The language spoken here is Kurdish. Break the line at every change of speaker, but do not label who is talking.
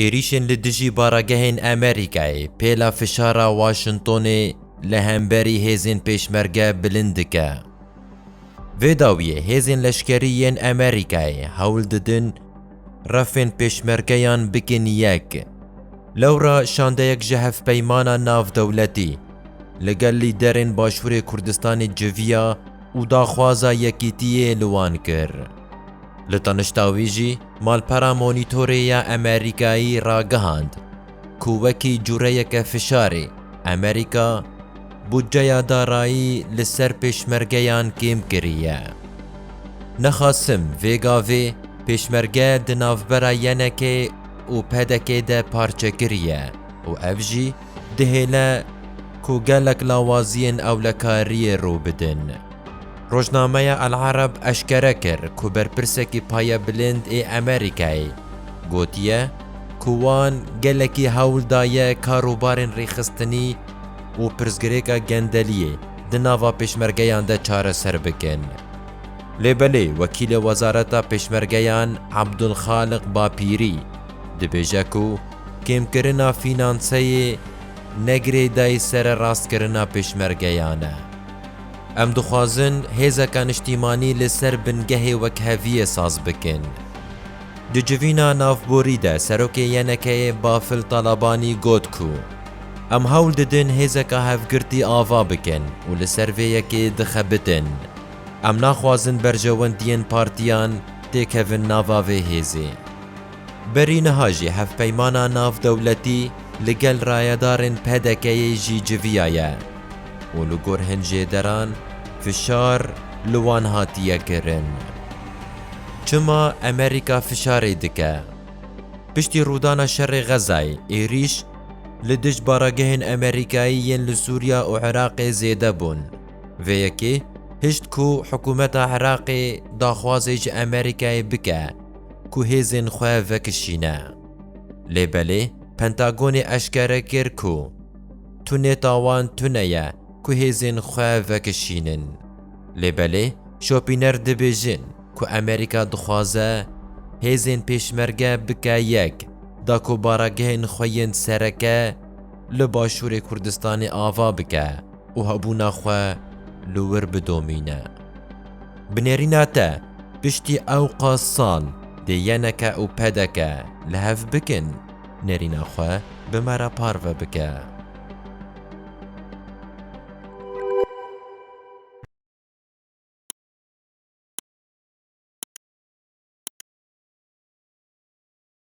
Êrîşên li dijî baragehên Amerîkayê pêla fişara Washingtonê li hemberî hêzên Pêşmerge bilind dike. Vê dawiyê hêzên leşkerî yên Amerîkayê hewl didin refên Pêşmergeyan bikin yek. Lewra şandeyek ji hevpeymana navdewletî li gel lîderên Başûrê Kurdistanê civiya û daxwaza yekîtiyê li wan kir. Li tanişta wî jî, Malpera Monitorê ya Amerîkayî ragihand ku wekî cureyeke fişarê Amerîka budceya darayî li ser pêşmergeyan kêm kiriye. Nexasim vê gavê pêşmerge di navbera YNK û PDK de parçe kiriye û ev jî dihêle ku gelek lawaziyên ewlekariyê rû bidin. Rojnameya El Arab eşkere kir ku berpirsekî paya bilind ê Amerîkayê gotiye ku wan gelekî hewl daye karûbarên rêxistinî û pirsgirêka gendeliyê di nava pêşmergeyan de çareser bikin. Lê belê wekîlê wezareta pêşmergeyan Abdulxaliq Bapîrî dibêje ku kêmkirina fînanseyê ne girêdayî sererastkirina pêşmergeyan e. Em dixwazin hêzeka niştîmanî li ser bingehê wekheviyê saz bikin. Di civîna navborî de Serokê YNK'ê Bafil Talabanî got ku Em hewl didin hêzeka hevgirtî ava bikin û li ser vê yekê dixebitin. Em naxwazin berjewendiyên partiyan têkevin nava vê hêzê. Berî niha jî hevpeymana navdewletî li gel rayedarên PDK'ê jî civiyaye û li gor hinjêderan fişar li wan hatiye kirin. Çima Amerîka fişarê dike? Piştî rûdana şerê Xezayê êrîş li dij baragehên Amerîkayî yên li Sûriya û Iraqê zêde bûn. Vê yekê hişt ku hikûmeta Iraqê daxwazê ji Amerîkayê bike. ku hêzên xwe vekişîne. Lê belê Pentagonê eşkere kir ku tunê tawan tune ye ku hêzên xwe vekişînin. Lê belê şopîner dibêjin ku Amerîka dixwaze hêzên pêşmerge bike yek da ku baragehên xwe yên sereke li Başûrê Kurdistanê ava bike û hebûna xwe li wir bidomîne. Bi nêrîna te, piştî ewqa sal dê yeneke û pedeke li hev bikin, nêrîna xwe bi me re parve bike.